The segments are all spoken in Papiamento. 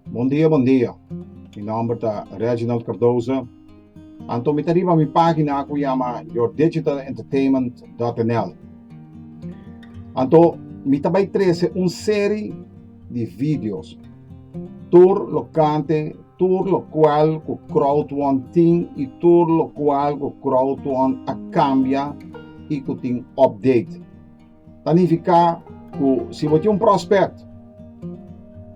Bon dia bon dia mi nomber ta Reginald Cardoza anto mi ta riba mi pagina ku yama yourdigitalentertainment.nl anto mi ta bai trese un seri di videos. Tur lo kante, tur lo kual ku Crowdwon tin i tur lo kual ku Crowdwon a kambia i ku tin update. Ta nifiká ku si bo tin un prospect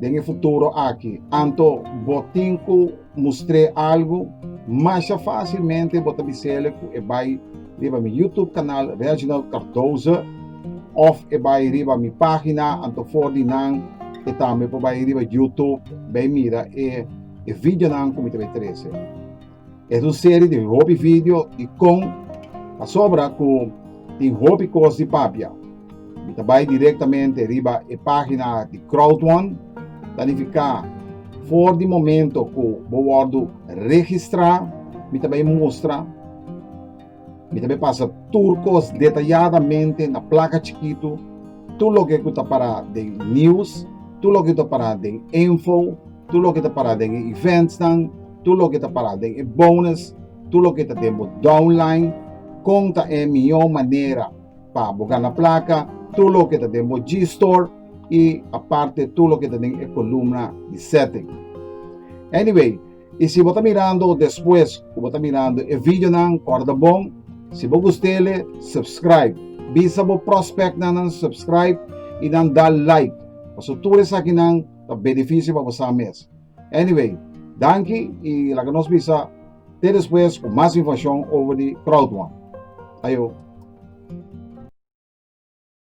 den e futuro aki, anto bo tin ku mustr'é algu masha fásilmente bo ta biséle ku e bai riba mi YouTube kanal Reginald Cardoza òf e bai riba mi página anto for di nan e tambe por bai riba YouTube bai mira e e videonan ku mi ta bai trese. Es un serie di hopi video di kon pasobra ku Tin hopi kos di papia. Mi ta bai direktamente riba e página di Crowdone, ta nifiká for di momento ku bo wòrdu registrá, mi ta bai mustra, mi ta bai pasa tur kos detayadamente na plaka chikitu, tur loke ku ta pará den News, tur loke ku ta pará den Info, tur loke ta para den e eventsnan, tur loke ta para den e bonus, tur loke ta den bo downline, kon ta e mihó manera pa bo gana plaka, tur loke ta den bo G-Store i aparte tur loke ta den e kolumna di setting. Anyway, i si bo ta mirando despues ku bo ta mirando e videonan, kòrda bon, si bo gustele, subscribe. Bisa bo prospectnan nan subscribe i nan da like, paso tur esakinan ta benefisio pa bosa mes. Anyway, danki i laga nos bisa te despues ku mas informashon over di crowdone. Ayo!